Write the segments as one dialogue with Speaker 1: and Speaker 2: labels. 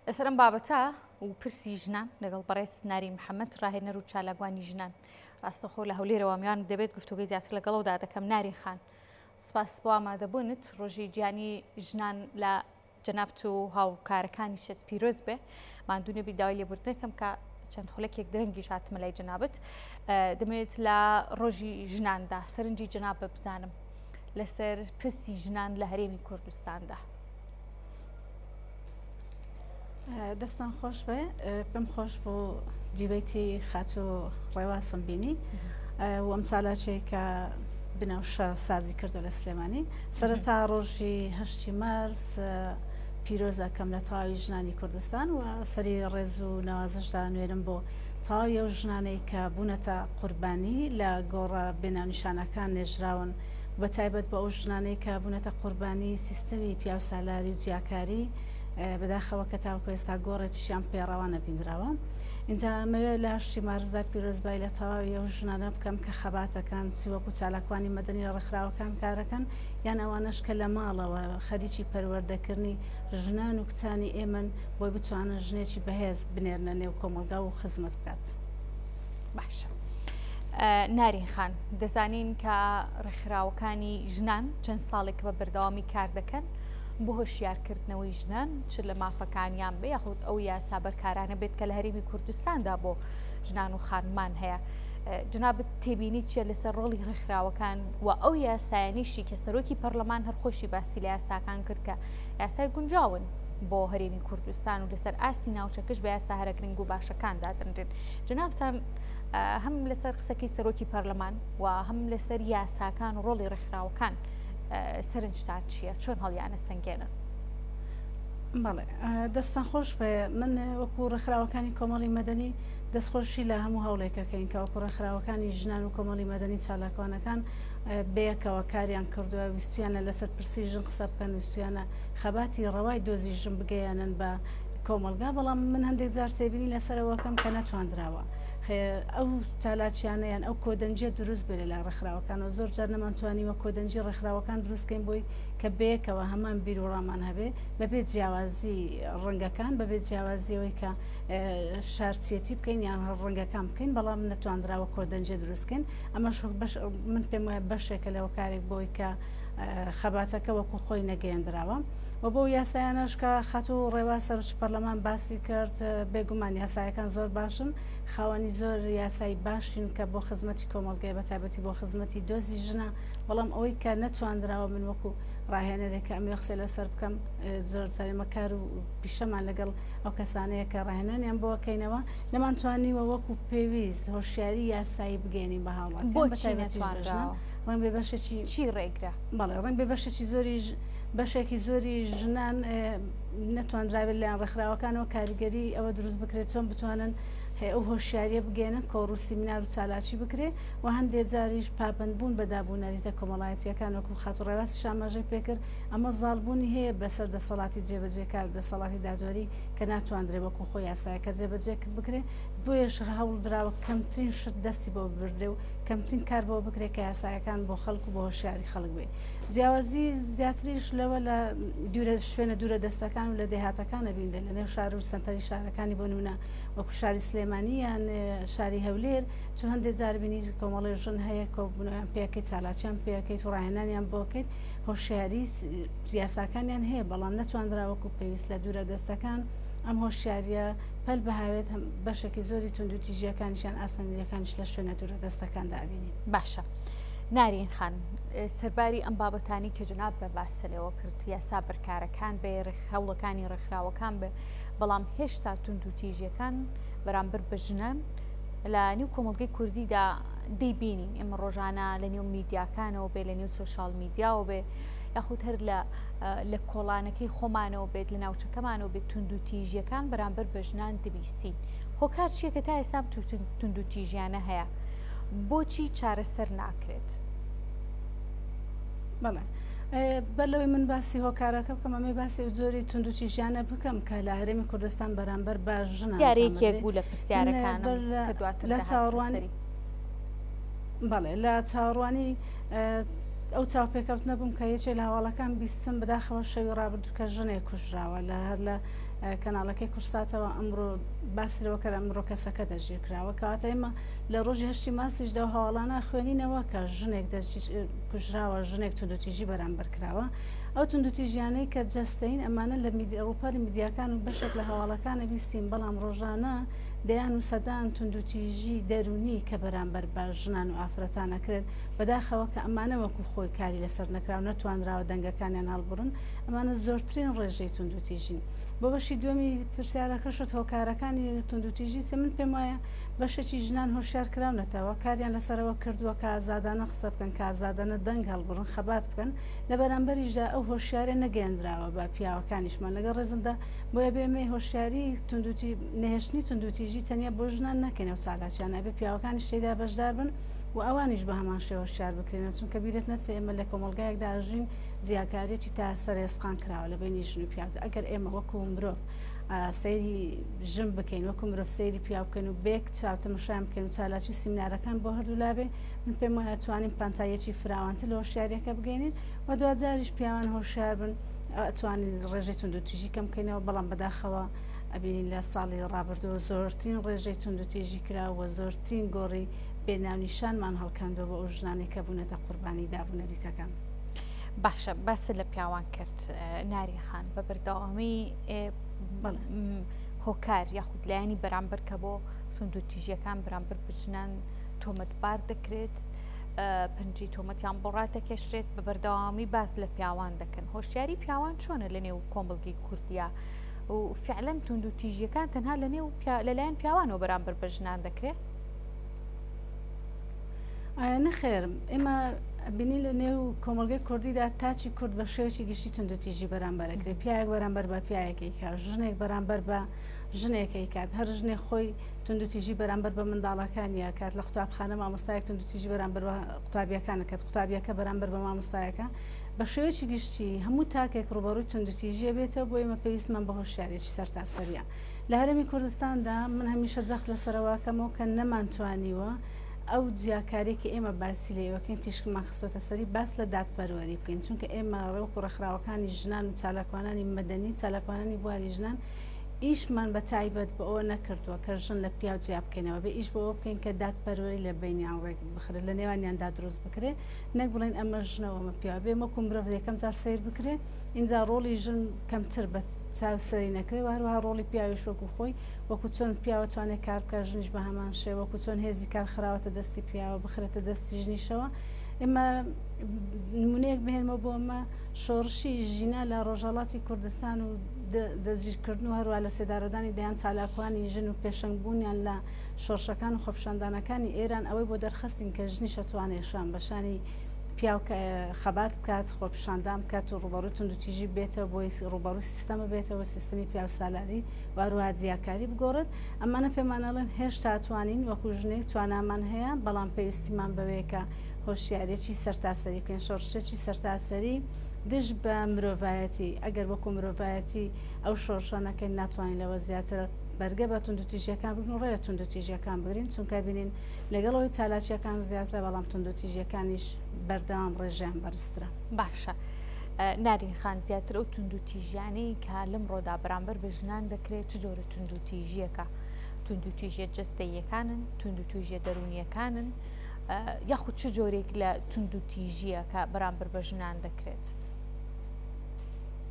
Speaker 1: لەسەر ئەم بابەتە و پرسی ژنان لەگەڵ بەڕێز نارین محەممەد ڕاهێنەر و چالاگوانی ژنان ڕاستەخۆ لە هەولێرەوە میان دەبێت گفتوگەی زیاتر لەگەڵەوەدا دەکەم نارین خان سپاس بۆ ئامادەبوونت ڕۆژی گیانی ژنان لە جەنابت و هاوکارەکانی شت پیرۆز بێ مادونەبی داوای لێبوردنەکەم کە چەند خولەکێک درەنگیش هاتمە لای جەنابت دەمەوێت لە ڕۆژی ژناندا سەرنجی جەناب بە بزانم لەسەر پرسی ژنان لە هەرێمی کوردستاندا.
Speaker 2: دەستان خۆش بێ پێم خۆش بۆ جیبەتی خاچۆ ڕێواسم بینی و ئەم چالاچەیە کە بنەوشە سازی کردو لە سلێمانی سەرەتا ڕۆژی هەشتی مارس پیرۆز ئەکەم لە تەواوی ژنانی کوردستان و سەری ڕێز و نەوازش دانوێنم بۆ تەواوی ئەو ژنانەی کە بوونەتە قوربانی لە گۆڕە بێناونیشانەکان نێژراون و بە تایبەت بۆ ئەو ژنانەی کە بوونەتە قوربانی سیستەمی پیاوسالاری و جیاکاری بەداخەوە کە تاوەکو ئێستا گۆڕێکیشیان پێ ڕەوا نەبیندراوە ئینجا ئەمەوێت لە هەشتی مارسدا پیرۆزبای لە تەواوی ئەو ژنانە بکەم کە خەباتەکان چی وەکو چالاکوانی مەدەنی لە ڕێکخراوەکان کارەکەن یان ئەوانەش کە لە ماڵەوە خەریکی پەروەردەکردنی ژنان و کچانی ئێمەن بۆی بتوانن ژنێکی بەهێز بنێرنە نێو کۆمەڵگا و خزمەت بکات. باشە.
Speaker 1: نارین خان دەزانین کە ڕێکخراوەکانی ژنان چەند ساڵێک بە بەردەوامی کار دەکەن بۆ هۆشیارکردنەوەی ژنان چ لە مافەکانیان بە یاخود ئەو یاسا بەرکارانە بێت کە لە هەرێمی کوردستاندا بۆ ژنان و خانمان هەیە جناب تێبینیت چیە لەسەر ڕۆڵی ڕێکخراوەکان و ئەو یاسایانیشی کە سەرۆکی پەرلەمان هەرخۆشی باسی لە یاساکان کرد کە یاسای گونجاون بۆ هەرێمی کوردستان و لەسەر ئاستی ناوچەکەش بە یاسا هەرە گرنگ و باشەکان دادەنرێن جنابتان هەم لەسەر قسەکی سەرۆکی پەرلەمان و هەم لەسەر یاساکان و ڕۆڵی ڕێکخراوەکان سەرنجتان چییە چۆن هەڵیانە سنگێنن بەڵێ دەستان خۆش بێ من وەکو ڕێکخراوەکانی
Speaker 2: کۆمەڵی مەدەنی دەستخۆشی لە هەموو هەوڵێکەکەین کە وەکو ڕێکخراوەکانی ژنان و کۆمەڵی مەدەنی چالاکوانەکان بەیەکەوە کاریان کردووە ویستویانە لەسەر پرسی ژن قسە بکەن ویستویانە خەباتی ڕەوای دۆزی ژن بگەیەنن بە کۆمەڵگا بەڵام من هەندێک جار تێبینی لەسەرەوەکەم کە نەتواندراوە ئەو چالاکیانە یان ئەو کۆدەنجە دروست بێ لەلای ڕێکخراوەکانەوە زۆر جار نەمانتوانیوە کۆدەنجی ڕێکخراوەکان دروستکەین بۆی کە بەیەکەوە هەمان بیرۆڕامان هەبێ بەبێت جیاوازی ڕەنگەکان بەبێت جیاوازیەوەی کە شارچیەتی بکەین یان ڕەنگەکان بکەین بەڵام نەتواندراوە کۆدەنجێ دروستکەین ئەمەش من پێم وایە بەشێکە لەوە کارێک بۆی کە خەباتەکە وەکو خۆی نەگەیەندراوە و بۆ یاسایانەشکە خاتو ڕێوا سەرچ پەرلەمان باسی کرد بێگومان یاسایەکان زۆر باشن خاوەنی زۆر یاسایی باشین کە بۆ خزمەتی کۆمەلگای بە تابەتی بۆ خزمەتی دۆزی ژنە بەڵام ئەوەی کە نەتواندراوە من وەکو ڕاهێنەرێکە ئەم یخسێ لەسەر بکەم زۆر جارێمەکار و پیشەمان لەگەڵ ئەو کەسانەیە کە ڕاهێنانیان بۆ کەینەوە، نەمانتوانیوە وەکو پێویست هۆشیاری یاسایی بگەیەنین بە هاوڵاتیان، بە تایبەتیش بەژنان، ڕەنگبێ بەشێکی چی ڕێگرە؟
Speaker 1: بەڵێ، ڕەنگبێ بەشێکی
Speaker 2: زۆریش، بەشێکی زۆری ژنان نەتواندرابێت لەلایەن ڕێکخراوەکانەوە کاریگەری ئەوە دروست بکرێت چۆن بتوانن ئەو هۆشیاریە بگەێنن کۆڕ و سیمینار و چالاکی بکرێ و هەندێ جاریش پابەندبوون بە دابوو نەریتە کۆمەڵایەتیەکان وەکو خاتوو ڕێواسی شاماژەی پێکرد ئەمە زاڵبوونی هەیە بەسەر دەسەڵاتی جێبەجێکار و دەسەڵاتی دادوەری کە ناتواندرێ وەکو خۆ یاسایەکە جێبەجێ بکرێ، بۆیەش هەوڵدراوە کەمترین شت دەستی بۆ ببردرێ و کەمترین کار بەوە بکرێ کە یاسایەکان بۆ خەڵک و بە هۆشیاری خەڵک بێ. جیاوازی زیاتریش لەوە لە دوورە شوێنە دوورە دەستەکان و لە دێهاتەکان ئەبینرێ لە نێو شار و سەنتەری شارەکانی بۆ نمونە وەکو شاری سلێمانی یان شاری هەولێر چون هەندێ جار بینی کۆمەڵێ ژن هەیە کۆببنەوە یان پێکەی چالاکیان پێکەیت و ڕاهێنانیان بۆکەیت هۆشیاری یاساکانیان هەیە بەڵام نەتواندرا وەکو پێویست لە دوورە دەستەکان ئەم هۆشیاریە پەل بهاوێت هەم بەشێکی زۆری توندوتیژیەکانیشان ئاسنەنیرەکانش لە شوێنە دوورە دەستەکان دابینین باشە
Speaker 1: نارین خان سەرباری ئەم بابەتانی کە جناب بە باسەلەوە کرد یاسا بەرکارەکان بێ ڕێکخراوڵەکانی ڕێکخراوەکان بێ بەڵام هێشتا توندوتیژیەکان بەرامبەر بە ژنان لە نیو کۆمەلگەی کوردیدا دەیبینین ئێمە ڕۆژانە لە نێو میدیاکانەوە بێ لە نێو سوۆشال میدیاوە بێ یاخود هەر لە لە کۆڵانەکەی خۆمانەوە بێت لە ناوچەکەمانەوە بێت تونند و تیژیەکان بەرامبەر بە ژنان دەبیستین هۆکار چیە کە تا ئێستام تونند و تیژیانە هەیە بۆچی چارەسەر ناکرێت
Speaker 2: بەڵێ. بەر لەوەی من باسی هۆکارەکە بکەم ئەمەی باسی و زۆری تونند و تیژیانە بکەم کە لە هەرێمی کوردستان بەرامبەر بە ژنان یارێکێک بوو لە بەڵێ لە چاڕوانی ئەو چاوپێکەوتنە بووم کە یەکێ لە هەواڵەکان بیستم بداخەوە شەوی ڕابردوو کە ژنێ کوژراوە لە هەر لە کەناڵەکەی کورساتەوە ئەمڕۆ باسرەوە کە ئەمڕۆ کەسەکە دەژیر کراوە کەواتە ئێمە لە ڕۆژی هەشتی ماسیشدا هەواڵانە خوێنینەوە کە ژنێک دەست کوژراوە ژنێک تونوتیژی بەرامبەر کراوە ئەو توندوتیژیانەی کە جەستەیین ئەمانە لە رووپەڕی میدیاکان و بەشێک لە هەواڵەکانە بیستین بەڵام رۆژانە دەیان و سەدان توندوتیژی دەروونی کە بەرامبەر بە ژنان و ئافرەتان ئەکرێت بەداخەوە کە ئەمانە وەکو خۆی کاری لەسەر نەکراو نەتوانراوە دەنگەکانیان هەڵبڕن ئەمانە زۆرترین رێژەی توندوتیژین بۆ بەشی دووەمی پرسیارەکەشت هۆکارەکانی توندوتیژی چ من پێم وایە بەشێکی ژنان هۆشیار کراونەتەوە کاریان لەسەرەوە کردووە کە ئازادانە قسە بکەن کە ئازادانە دەنگ هەڵبڕن خەبات بکەن لە بەرامبەریشدا ئەو هۆشیاریە نەگەیەندراوە بە پیاوەکانیشمان، لەگەڵ ڕێزمدا، بۆیە بێمەی هۆشیاری توندوتی نەهێشتنی توندوتیژی تەنیا بۆ ژنان نەکەین ئەو چالاکیانە ئەبێ پیاوەکانیش تێیدا بەشدار بن و ئەوانیش بە هەمان شێوە هۆشیار بکرێنەوە چونکە بیرت نەچێ ئێمە لە کۆمەڵگایەکدا ئەژین جیاکاریەکی تا سەرە ئێسقان کراوە لە بینی ژن و پیاودا ئەگەر ئێمە وەکو مرۆڤ سەیری ژن بکەین وەکو مرۆڤ سەیری پیاو بکەین و بێک چاو تەمەشایان بکەین و چالاکی و سیمینارەکان بۆ هەردوو لابێ من پێم وایە توانین پانتاییەکی فراوانتر لە هۆشیاریەکە بگەینین و دواجاریش پیاوان هۆشیار بن توانین ڕێژەی توندوتیژی کەم بکەینەوە بەڵام بەداخەوە ئەبینین لە ساڵی ڕابردووە زۆرترین ڕێژەی توندوتیژی کراوە زۆرترین گۆڕی بێناونیشانمان هەڵکاندوە بە ئەو ژنانێک کە بوونەتە قوربانی دابوونەریتەکان. باشە
Speaker 1: باس لە پیاوان کرد ناری خان بە بەردەوامی هۆکار یاخود لایەنی بەرامبەر کە بۆ سندوتیژیەکان بەرامبەر بچنان تۆمەتبار دەکرێت پنجی تۆمەتیان بۆ ڕاتەکێشرێت بە بەردەوامی باس لە پیاوان دەکەن هۆشیاری پیاوان چۆنە لە نێو کۆمەلگی کوردیا و فعلەن تونند و تیژیەکان تەنها لە نێو لەلایەن پیاوانەوە بەرامبەر بە ژنان دەکرێت
Speaker 2: نەخێر ئێمە بینی لە نێو کۆمەلگەی کوردیدا تاچی کورد بە شێوەی گشتی تونندتیژی بەرامبەرەکرێت پیاێک بەرامبەر بە پیاەکەی کار ژنێک بەرامبەر بە ژنێکەکات هەر ژنێ خۆی توندوتیژی بەرامبەر بە منداڵەکانی ئەکات لە قوتابخانە مامۆستایەک توندوتیژی بەرامبەر بە قوتابیەکان ئەکات قوتابیەکە بەرامبەر بە مامۆستایەکە بە شێوەیەکی گشتی هەموو تاکێک ڕوبەڕووی توندوتیژیە بێتەوە بۆ ئێمە پێویستمان بە هۆشیارێکی سەرتاسەریە لە هەرمی کوردستاندا من هەمیشە جەخت لەسەرواکەمەوە کە نەمانتوانیوە ئەو جیاکاری کە ئێمە باسی لێوەکەین تیشکمان خستۆتە سەری باس لە دادپەروەری بکەین چونکە ئێمە ڕێوک و ڕێکخراوەکانی ژنان و چالاکوانانی مەدەنی و چالاکوانانی بواری ژنان ئیشمان بە تایبەت بە ئەوە نەکردووە کە ژن لە پیاو جیا بکەینەوە، بێ ئیش بۆ ئەوە بکەین کە دادپەروەری لە بەینیان ڕێک بخرێ، لە نێوانیاندا دروست بکرێ، نەک بڵێین ئەمە ژنە و ئەمە پیاوە، بێ وەکوو مرۆڤ یەکەم جار سەیر بکرێ، ئینجا ڕۆڵی ژن کەمتر بە چاو سەری نەکرێ و هەروەها ڕۆڵی پیاویش وەکوو خۆی، وەکوو چۆن پیاو ئەتوانێ کار بکا ژنیش بە هەمان شێوە، وەکوو چۆن هێزی کار خراوەتە دەستی پیاوە بخرێتە دەستی ژنیشەوە، ئێمە نموونەیەک بهێنمەوە بۆ ئەمە شۆڕشی ژینا لە ڕۆژهەڵاتی کوردستان و، دەستگیرکردن و هەروەها لەسێدارەدانی دەیان چالاکوانی ژن و پێشەنگ بوونیان لە شۆڕشەکان و خۆپیشاندانەکانی ئێران ئەوەی بۆ دەرخستین کە ژنیش ئەتوانێ شان بە شانی پیاو خەبات بکات خۆپیشاندان بکات و ڕوبەڕوی توندوتیژی بێتەوە بۆی ڕوبەڕوی سیستەم بێتەوە سیستمی پیاو سالاری واروها جیاکاری بگۆڕێت ئەمانە پێمانەڵێن هێشتا توانین وەکو ژنێک توانامان هەیە بەڵام پێویستیمان بەوەیە کە هۆشیارێکی سەرتاسەری بکەین شۆڕشێکی سەرتاسەری دژ بە مرۆڤایەتی، ئەگەر وەکو مرۆڤایەتی ئەو شۆرشە نەکەین ناتوانین لەوە زیاتر بەرگە بە توندوتیژیەکان بگرین و ڕێ لە توندوتیژیەکان بگرین چونکە بینین لەگەڵ ئەوەی چالاکیەکان زیاترە بەڵام توندوتیژیەکانیش بەردەوام ڕێژەیان بەرزترە. باشە
Speaker 1: نارین خان زیاتر ئەو توندوتیژیانەی کە لەمڕۆدا بەرامبەر بە ژنان دەکرێت چ جۆرە توندوتیژیەکە توندوتیژیە جەستەییەکانن، توندوتیژیە دەرونیەکانن، یاخود چ جۆرێک لە تونند و تیژیە کە بەرامبەر بە
Speaker 2: ژنان دەکرێت.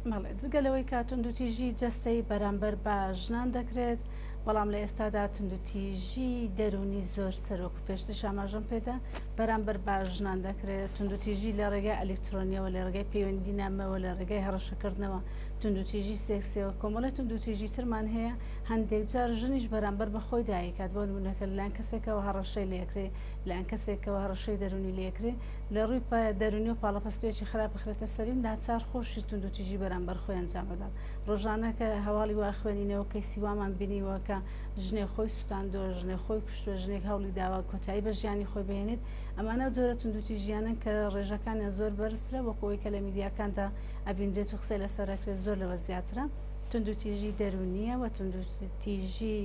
Speaker 2: مەڵێ جگەلەوەی کە توندوتیژی جەستەی بەرامبەر بە ژنان دەکرێت بەڵام لە ئێستادا توندوتیژی دەرونی زۆرتر وەکو پێشتر شاماژەم پێدا بەرامبەر بە ژنان دەکرێت توندوتیژی لە ڕێگای ئەلکترۆنیەوە لە ڕێگای پەیوەندی نامەوە لە ڕێگای هەڕەشەکردنەوە توندوتیژی سێکسیەوە کۆمەڵی توندوتیژی ترمان هەیە هەندێک جار ژنیش بەرامبەر بە خۆی دایکات، بۆ نموونە کە لەلایەن کەسێکەوە هەڕەشەی لێکرێ، لەلایەن کەسێکەوە هەڕەشەی دەروونی لێکرێ، لە ڕووی پە دەروونی و پاڵەپەستویەکی خراپ بخرێتە سەری و ناچار خۆشی توندوتیژی بەرامبەر خۆی ئەنجام بدات. ڕۆژانە کە هەواڵی وا خوێنینەوە، کەیسی وامان بینیوە کە ژنێک خۆی سوتاندووە، ژنێک خۆی کوشتووە، ژنێک هەوڵی داوە کۆتایی بە ژیانی خۆی بهێنێت، ئەمانە ئەو جۆرە توندوتیژییانەن کە ڕێژەکانیان زۆر بەرزترە وەکو ئەوەی کە لە میدیاکاندا ئەبینرێت و قسەی لەسەر ئەکرێت زۆر لەوە زیاترە. توندوتیژی دەروونییە و توندوتیژی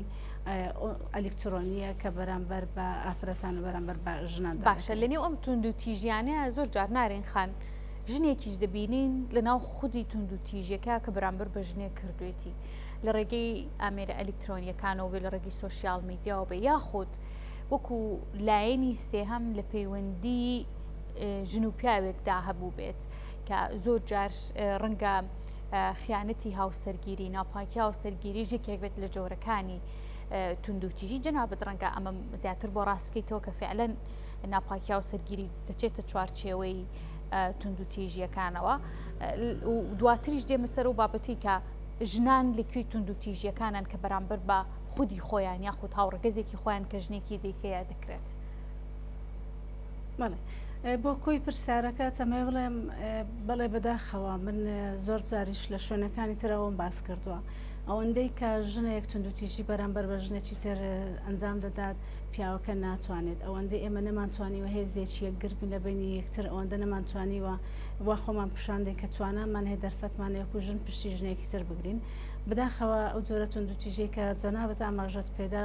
Speaker 2: ئەلیکترۆنییە کە بەرامبەر بە ئافرەتان و بەرامبەر بە ژنان دەکرێت. باشە لەنێو ئەم
Speaker 1: توندوتیژیانەیە زۆر جار نارین خان ژنێکیش دەبینین لەناو خودی توندوتیژیەکە کە بەرامبەر بە ژنێک کردوێتی لە ڕێگەی ئامێرە ئەلیکترۆنیەکانەوە بێ لە ڕێگەی سۆسیال میدیاوە بێ یاخود وەکو لایەنی سێهەم لە پەیوەندی ژن و پیاوێکدا هەبوو بێت کە زۆر جار ڕەنگە خیانەتی هاوسەرگیری، ناپاکی هاوسەرگیریش یەکێک بێت لە جۆرەکانی توندوتیژی، جەنابت ڕەنگە ئەمە زیاتر بۆ ڕاست بکەیتەوە کە فعلەن ناپاکی هاوسەرگیری دەچێتە چوارچێوەی توندوتیژیەکانەوە دواتریش دێمە سەر و بابەتی کە ژنان لەکوێی توندوتیژیەکانن کە بەرامبەر بە خودی خۆیان یاخود هاوڕگەزێکی خۆیان کە ژنێکی دیکەیە دەکرێت. بەڵێ
Speaker 2: بۆ کۆی پرسیارەکە تەمێ بڵێم بەڵێ بەداخەوە من زۆر جاریش لە شوێنەکانی ترەوەم باس کردووە ئەوەندەی کە ژنێک تونندوتیژی بەرامبەر بە ژنێکی تر ئەنجام دەدات پیاوەکە ناتوانێت ئەوەندەی ئێمە نەمانتوانیوە هێزێکی یەکگربین لە بینی یەکتر ئەوەندە نەمانتوانیوە وا خۆمان پیشاندێک کە توانامان هەیە دەرفەتمان یەکو ژن پشتی ژنێکی تر بگرین بداخەوە ئەو جۆرە تونندوتیژی کە جەنابەت ئاماژەت پێدا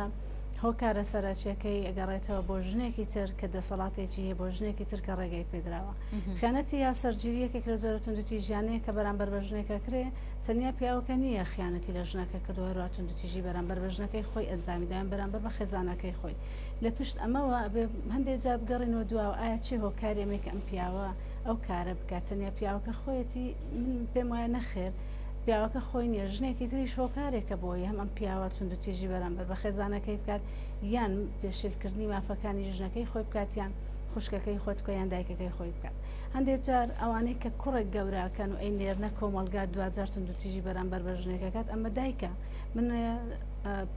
Speaker 2: هۆکارە سەرەکیەکەی ئەگەڕێتەوە بۆ ژنێکی تر کە دەسەڵاتێکی هەیە بۆ ژنێکی تر کە ڕێگەی پێدراوە خیانەتی یا سەرگیریەکێک لە جۆرە توندوتی ژیانەیە کە بەرامبەر بە ژنێکە کرێ تەنیا پیاوەکە نییە خیانەتی لە ژنەکە کردو هەروە توندوتیژی بەرامبەر بە ژنەکەی خۆی ئەنجامیدایان بەرامبەر بە خێزانەکەی خۆی لە پشت ئەمەوە ئەبێ هەندێک جا بگەڕینەوە دواوە ئایا چی هۆکارێمێک ئەم پیاوە ئەو کارە بکات تەنیا پیاوەکە خۆیەتی من پێم وایە نەخێر پیاوەکە خۆی نیە ژنێکی تریش هۆکارێکە بۆی هەم ئەم پیاوە توندوتیژی بەرامبەر بە خێزانەکەی بکات یان پێشیلکردنی مافەکانی ژنەکەی خۆی بکات یان خوشکەکەی خۆت بکە یان دایکەکەی خۆی بکات هەندێک جار ئەوانەی کە کوڕێک گەوراکەن و ئەی نێرنە کۆمەلگا دوجار توندوتیژی بەرامبەر بە ژنێکەکەات ئەمە دایکە من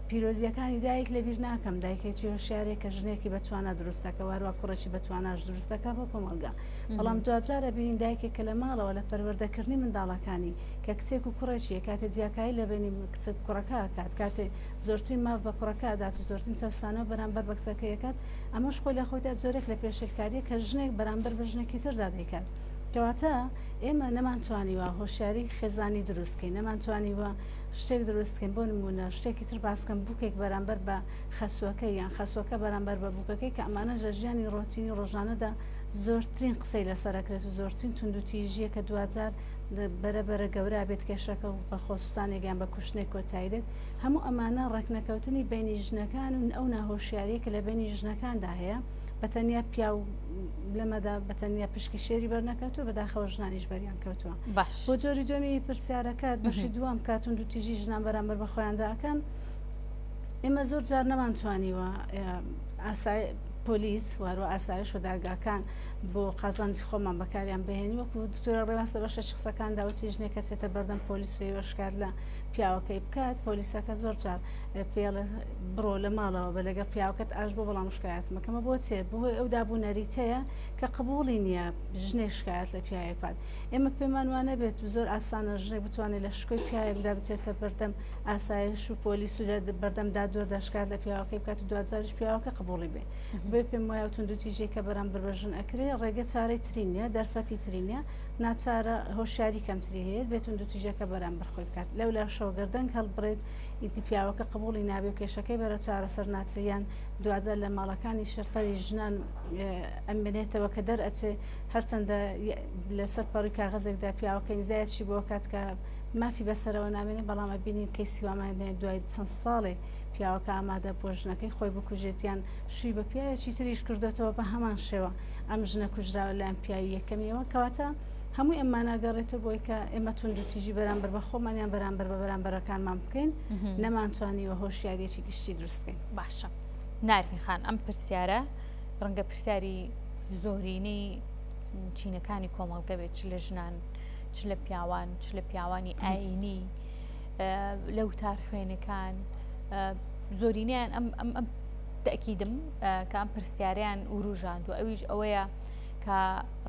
Speaker 2: پیرۆزیەکانی دایک لە بیر ناکەم دایکێکی هۆشارێک کە ژنێکی بەتوانە دروستەکە واروا کوڕێکی بەتواناش دروستەکە بۆ کۆمەلگا بەڵام دواجار ئەبینین دایکێک کە لە ماڵەوە لە پەروەردەکردنی منداڵەکانی کە کچێک و کوڕێکیە کاتێ جیاکایی لە بینی کچک کوڕەکە کات کاتێ زۆرترین ماف بە کوڕەکە ئەدات و زۆرترین چەسانە و بەرامبەر بە کچەکەیەکات ئەمەش خۆی لە خۆیدا زۆرێک لە پێشلکاریە کە ژنێک بەرامبەر بە ژنێکی تردا دەیکات کەواتە ئێمە نەمانتوانیوە هۆشیاری خێزانی دروستکەین نەمانتوانیوە شتێک دروستکەین بۆ نمونە شتێکی تر باسکەم بووکێک بەرامبەر بە خەسوەکە یان خەسوەکە بەرامبەر بە بووکەکەی کە ئەمانە لە ژیانی ڕۆتینی ڕۆژانەدا زۆرترین قسەی لەسەر ئەکرێت و زۆرترین توندوتیژیە کە دواجار بەرە بەرە گەورە بێت کێشەکە و بە خۆسووتانێکیان بە کوشتنێک کۆتایی دێت هەموو ئەمانە ڕێکنەکەوتنی بینی ژنەکان و ئەو ناهۆشیاریە کە لە بینی ژنەکاندا هەیە بە تەنیا پیا و لەمەدا بە تەنیا پشکی شێری بەرنەکەوتوە بەداخەوە ژنانیش بەریان کەوتووە باش بۆ جۆری دوێنی پرسیارەکەت بەشی دوام کاتون دو تیژی ژنان بەرامبەر بە خۆیانداکەن ئێمە زۆر جار نەمان توانیوە ئاسای پۆلیس واروا ئاسایش و دارگاکان بۆ قازانجی خۆمان بەکاریان بهێنی وەکو دکتۆرە ڕێواز لە بەشە قسەکان داوتی ژنێکە چێتە بەردەم پۆلیس و هێوە شکات لە پیاوەکەی بکات پۆلیسەکە زۆر جار پێڵە بڕۆ لە ماڵەوە بە لەگە پیاوەکەت ئاش بۆ بەڵام شکایەتمەکەمە بۆ چێ بۆی ئەو دابوو نەریتەیە کە قبولی نییە ژنێ شکایەت لە پیاوەکات ئێمە پێمانوانە بێت زۆر ئاسانە ژنێ بتوانێت لە شکۆی پیاوێکدا بچێتە بەردەم ئاسایش و پۆلیس و بەردەم دادوەردا شکات لە پیاوەکەی بکات و دوجاریش پیاوەکە قبولی بێ بێ پێم وایە تون دو تیژێک کە بەرەم بەربژن ئەکرێ ڕێگە چارەی ترینە دەرفەتی ترینە ناچارە هۆشیاری کەمتری هەیە بێتون دو تیژەکە بەرەم بەرخۆی بکات لەو لا شۆگەردەنگ هەڵبرێت ئیتی پیاوەکە قبولی نابێ و کێشەکەی بەرە چارەسەر ناچیان دوجار لە ماڵەکانی شەسەری ژنان ئەمێنێتەوە کە دەرئەچێ هەرچەندە لەسەر پەڕی کاغەزێکدا پیاوەکەی نزایەتشی بۆ کات کە مافی بەسەرەوە نامێنێ بەڵام ئەبینین کەیسی وامانە دێنێ دوای چەند ساڵێ پیاوەکە ئامادە بووە ژنەکەی خۆی بکوژێت یان شووی بە پیاوێکی تریش کردوێتەوە بە هەمان شێوە ئەم ژنە کوژراوە لایەن پیاوی یەکەمیەوە کەواتە هەموو ئەمما ناگەڕێتەوە بۆی کە ئێمە توندوتیژی بەرامبەر بە خۆمانیان بەرامبەر بە بەرامبەرەکانمان بکەین نەمانتوانیوە هۆشیارێکی گشتی دروست بکەین باشە
Speaker 1: نارین خان ئەم پرسیارە ڕەنگە پرسیاری زۆرینەی چینەکانی کۆمەڵگە بێت چ لە ژنان چ لە پیاوان چ لە پیاوانی ئاینی لە وتار خوێنەکان زۆرینیان ئەم ئەم تەکیدم کام پرسیاریان وروژاند و ئەویش ئەوەیە کە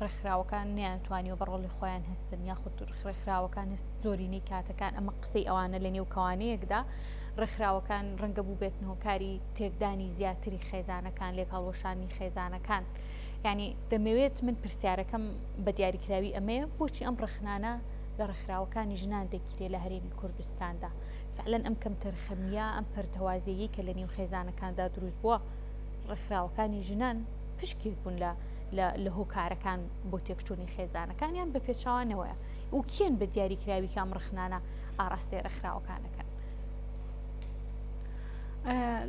Speaker 1: ڕێکخراوەکان نیان توانیوە بە ڕۆڵی خۆیان هەستن یاخود ڕێکخراوەکان هەست زۆرینەی کاتەکان ئەمە قسەی ئەوانە لە نێو کەوانەیەکدا ڕێکخراوەکان ڕەنگە بوو بێتنەوە کاری تێکدانی زیاتری خێزانەکان لێک هەڵوەشانی خێزانەکان. یانی دەمەوێت من پرسیارەکەم بە دیاریکراوی ئەمەیە بۆچی ئەم ڕخنانە لە ڕێکخراوەکانی ژنان دەگیرێت لە هەرێمی کوردستاندا فعلەن ئەم کەم تەرخەمیە ئەم پەرتەوازەیە کە لە نێو خێزانەکاندا دروست بووە ڕێکخراوەکانی ژنان پشکێک بوون لە لە هۆکارەکان بۆ تێکچوونی خێزانەکانیان بە پێچوانەوەە و کێن بە دیاریکراوی کام ڕخنانە ئاراستەی ڕێکخراوەکانەکەن.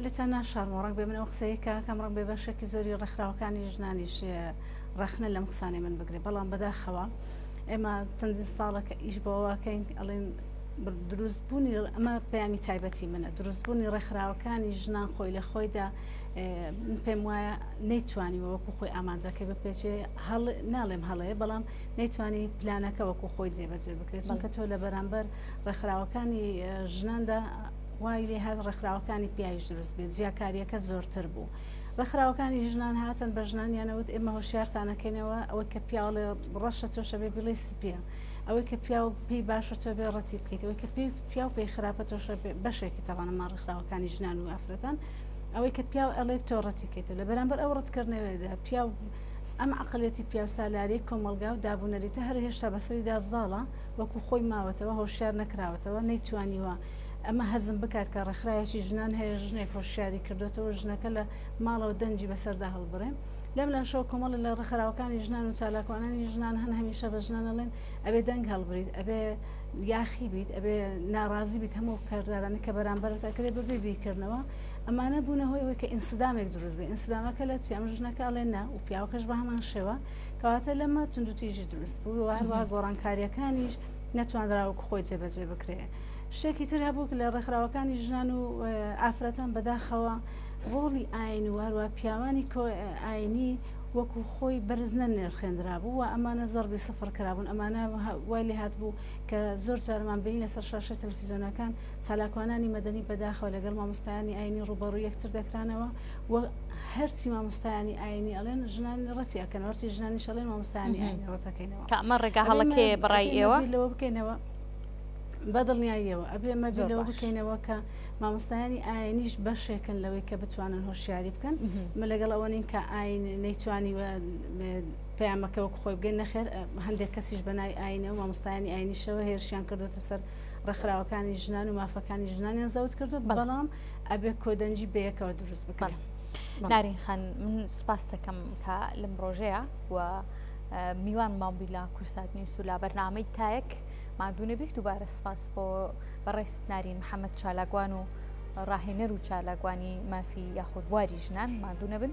Speaker 2: لێتان ناشارمەوە ڕەنگ بێ من ئەو قسەیە کاکەم ڕەنگ بێ بەشێکی زۆری ڕێکخراوەکانی ژنانیش ڕەخنە لەم قسانەی من بگرێ بەڵام بەداخەوە ئێمە چەندین ساڵە کە ئیش بۆواکەین ئەڵێن دروست بوونی ئەمە پەیامی تایبەتی منە دروست بوونی ڕێکخراوەکانی ژنان خۆی لە خۆیدا من پێم وایە نەیتوانی وەکو خۆی ئامانجەکەی بپێچێ هەڵ ناڵێم هەڵەیە بەڵام نەیتوانی پلانەکە وەکو خۆی جێبەجێ بکرێت چونکە تۆ لە بەرامبەر ڕێکخراوەکانی ژناندا وای لێ هات ڕێکخراوەکانی پیاویش دروست بێت، جیاکارییەکە زۆرتر بوو. ڕێکخراوەکانی ژنان هاتن بە ژنانیان ئەوت ئێمە هۆشیارتان ئەکەینەوە، ئەوەی کە پیاو ئەڵێ ڕەشە تۆش ئەبێ بیڵێی سپییە، ئەوەی کە پیاو پێی باشە تۆ ئەبێ ڕەتی بکەیت، ئەوەی کە پێی پیاو پێی خراپە تۆش ئەبێ، بەشێکی تاوانە ماڵ ڕێکخراوەکانی ژنان و ئافرەتان، ئەوەی کە پیاو ئەڵێ تۆ ڕەتی کەیتەوە. لە بەرامبەر ئەو ڕەتکردنەوەیەدا پیاو ئەم عەقڵیەتی پیاوسالاری کۆمەڵگا و دابونەریتە هەر هێشتا بەسەریدا زاڵە، وەکو خۆی ماوەتەوە، هۆشیار نەکراوەتەوە، نەیتوانیوە ئەمە هەزم بکات کە ڕێکخراوێکی ژنان هەیە ژنێک هۆشیاری کردوێتەوە ژنەکە لە ماڵەوە دەنجی بەسەردا هەڵبڕێ لەم لاشەوە کۆمەڵی لە ڕخراوەکانی ژنان و چالاکوانانی ژنان هەن هەمیشە بە ژنانەڵێن ئەبێ دەنگ هەڵبریت ئەبێ یاخی بیت ئەبێ ناڕازی بیت هەموو کاردارانی کە بەرامبەرت ئەکرێ بەبێ بیرکردنەوە ئەمانە بوونە هۆی ئەوەی کە ئینسدامێک دروست بێ ئینسدامەکە لە چی ئەم ژنەکە ئەڵێ نا و پیاوەکەش بە هەمان شێوە کەواتە لەمە توندوتیژی دروست بوو وهروە گۆڕانکاریەکانیش نەتوانراوە خۆی جێبەجێ بکرێ شتێکی تر هەبوو لە ڕێکخراوەکانی ژنان و ئافرەتان بەداخەوە ڕۆڵی ئاین و هەروە پیاوانی ئاینی وەکو خۆی بەرزنە نرخێنرا بوو و ئەمانە زەربی سفر کرابوون ئەمانە وای لێ هاات بوو کە زۆر جارمان بینی لەسەر شاشە تەلفزیۆنەکان چالاکوانانی مەدەنی بەداخەوە لەگەڵ مامۆستایانی ئاینی ڕوبەڕوو یەکتر دەکرانەوە و هەرچی مامۆستایانی ئاینی ئەڵێن ژنان ڕەتی ئەکەن هەرچی ژنانی شەڵێن مامۆستایانی ئاینی ڕەتەکەینەوە کامە ڕێگا هەڵەکێ
Speaker 1: بڕای ئێوە لەوە بکەینەوە
Speaker 2: بە دڵنیاییەوە ئەبێ مە لەوە بکەینەوە کە مامۆستایانی ئاینیش بەشێکن لەوەی کە بتوانن هۆشیاری بکەن من لەگەڵ ئەوە نین کە ئاین نەیتوانی پەیامەکە وەک خۆی بگەین نەخێر هەندێک کەسیش بەنای ئاینە و مامۆستایانی ئاینیشەوە هێرشیان کردوتە سەر ڕێکخراوەکانی ژنان و مافەکانی ژنانیان زەوت کردو بەڵام ئەبێ کۆدەنجی بەیەکەوە دروست بکەن نارین خان
Speaker 1: من سپاس دەکەم کە لەم ڕۆژەیە و میوان مامبیلا کورسات نیوس و لا بەرنامەی تایەک ماندوو نەبیت دووبارە سپاس بۆ بەڕێزت نارین محەممەد چالاکوان و ڕاهێنەر و چالاکوانی مافی یاخود بواری ژنان ماندوو نەبن.